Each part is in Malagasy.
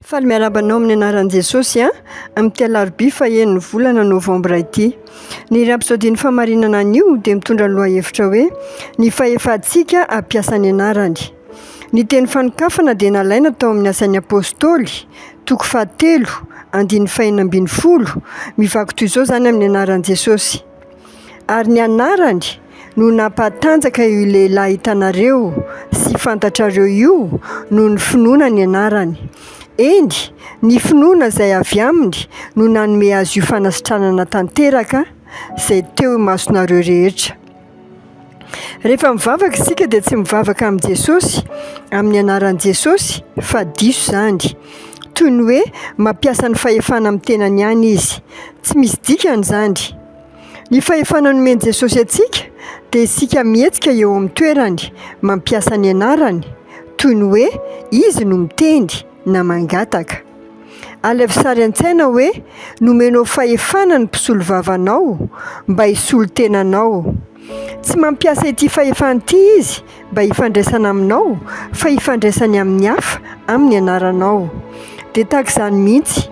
Faly miarahaba anao amin'ny anaran'i Jesosy a! Amin'ity alarobia fahen'ny volana novambra ity. Ny Rapsodin'ny famarinana anio dia mitondra ny lohahevitra hoe Ny fahefantsika hampiasa ny anarany. Ny teny fanokafana dia nalaina tao amin'ny Asan'ny Apôstôly, toko fahatelo, andininy fahenina ambin'ny folo. Mivaky toy izao izany amin'ny anaran'i Jesosy. ary ny anarany no nampatanjaka io lehilahy hitanareo sy fantatrareo io noho ny finoana ny anarany. Eny, ny finoana izay avy aminy no nanome azy io fanasitranana tanteraka izay teo imasonareo rehetra. Rehefa mivavaka isika dia tsy mivavaka amin'i Jesosy, amin'ny anaran'i Jesosy, fa diso izany. Toy ny hoe mampiasa ny fahefana amin'ny tenany ihany izy. Tsy misy dikany izany. Ny fahefana nomen'i Jesosy antsika dia isika mihetsika eo amin'ny toerany, mampiasa ny anarany, toy ny hoe izy no miteny na mangataka. Alefa sary an-tsaina hoe nomenao fahefana ny mpisolovavanao mba hisolo tena anao. Tsy mampiasa ity fahefana ity izy mba hifandraisana aminao, fa hifandraisany amin'ny hafa amin'ny anaranao. Dia tahaka izany mihitsy,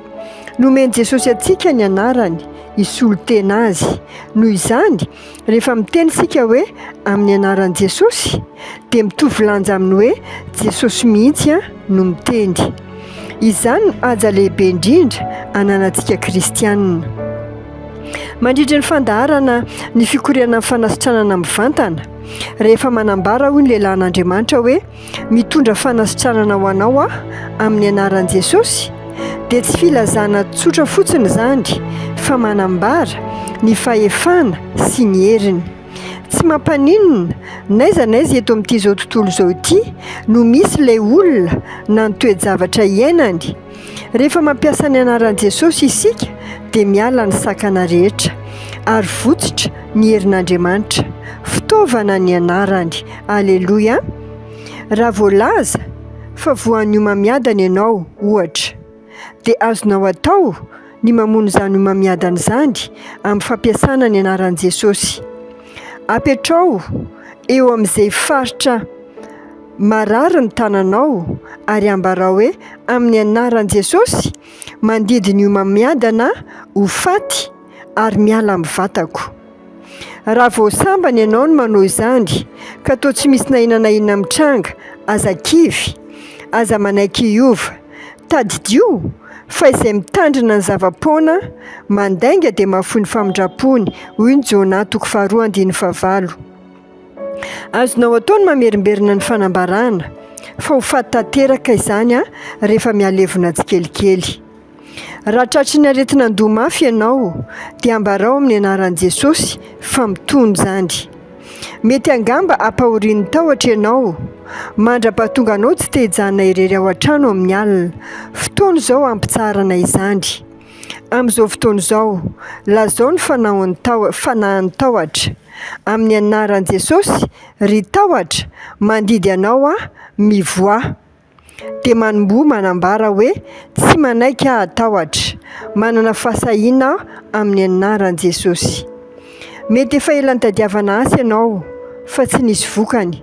nomen'i Jesosy antsika ny anarany, hisolo tena azy. Noho izany, Rehefa miteny isika hoe amin'ny anaran'i Jesosy dia mitovy lanja amin'ny hoe Jesosy mihitsy no miteny. Izany no haja lehibe indrindra ananantsika kristianina. Mandritra ny fandaharana ny fikoronan'ny fanasitranana mivantana, rehefa manambara hoy ny lehilahin'Andriamanitra hoe Mitondra fanasitranana ho anao aho amin'ny anaran'i Jesosy dia tsy filazana tsotra fotsiny izany fa manambara ny fahefana sy ny heriny. Tsy mampaninona, n'aiza n'aiza eto amin'ity izao tontolo izao ity no misy ilay olona na ny toe-javatra iainany, Rehefa mampiasa ny anaran'i Jesosy isika dia miala ny sakana rehetra ary votsotra ny herin'Andriamanitra. Fitaovana ny anarany. Aleloia! Raha voalaza fa voan'ny homamiadana ianao, ohatra, dia azonao atao ny mamono izany homamiadana izany amin'ny fampiasana ny anaran'i Jesosy. Apetraho eo amin'izay faritra Marary ny tananao, ary ambarao hoe, Amin'ny anaran'i Jesosy, mandidy ny homamiadana ho faty ary miala amin'ny vatako. Raha vao sambany ianao ny manao izany, ka toa tsy misy na inona na inona mitranga, aza kivy, aza manaiky hiova. Tadidio fa izay mitandrina ny zava-poana, mandainga dia mahafoy ny famindram-pony, hoy ny Jona toko faharoa andininy fahavalo. Azonao atao ny mamerimberina ny fanambarana, fa ho faty tanteraka izany rehefa mihalevona tsikelikely. Raha tratry ny aretin'andoha mafy ianao, dia ambarao amin'ny anaran'i Jesosy fa mitony izany. Mety angamba hampahorian'ny tahotra ianao, mandrapa tonga anao tsy te hijanona irery ao an-trano amin'ny alina. Fotoana izao hampitsaharana izany. Amin'izao fotoana izao, lazao ny fanaon'ny taho- fanahin'ny tahotra, Amin'ny anaran'i Jesosy, ry tahotra, mandidy Anao aho, mivoaha. Dia manomboha manambara hoe, Tsy manaiky aho hatahotra. Manana fahasahiana aho amin'ny anaran'i Jesosy. Mety efa ela nitadiavana asa ianao, fa tsy nisy vokany.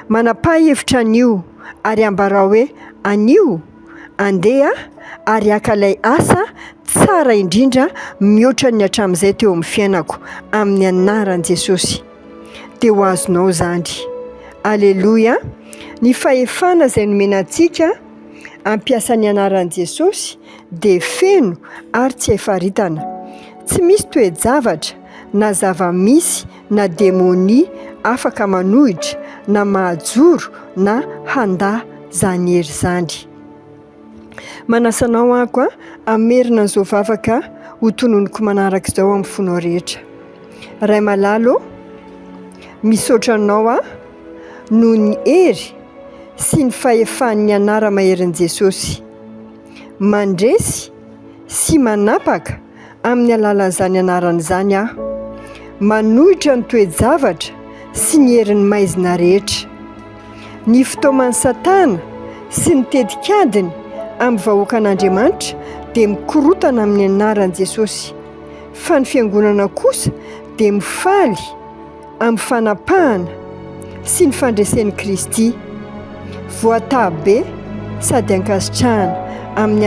Manapaha hevitra anio, ary ambarao hoe, Anio, Andeha ary haka ilay asa tsara indrindra mihoatra ny hatramin'izay teo amin'ny fiainako, amin'ny anaran'i Jesosy. Dia ho azonao izany. Aleloia! Ny fahefana izay nomena antsika hampiasa ny anaran'i Jesosy dia feno ary tsy hay faritana. Tsy misy toe-javatra na zava-misy na demonia afaka manohitra na mahajoro na handà izany hery izany. Manasa anao ako a, hamerina an'izao vavaka ho tononiko manaraka izao amin'ny fonao rehetra. Ray malala ô, misaotra anao aho noho ny hery sy ny fahefan'ny anara maherin'i Jesosy. Mandresy sy manapaka. amin'ny alalan'izany anarana izany aho. Manohitra ny toe-javatra sy ny herin'ny maizina rehetra. Ny fitaoman'i Satana sy ny tetikadiny amin'ny vahoakan'Andriamanitra dia mikorontana amin'ny anaran'i Jesosy, fa ny Fiangonana kosa dia mifaly amin'ny fanapahana sy ny fandresen'i Kristy. Voataha be sady ankasitrahana amin'ny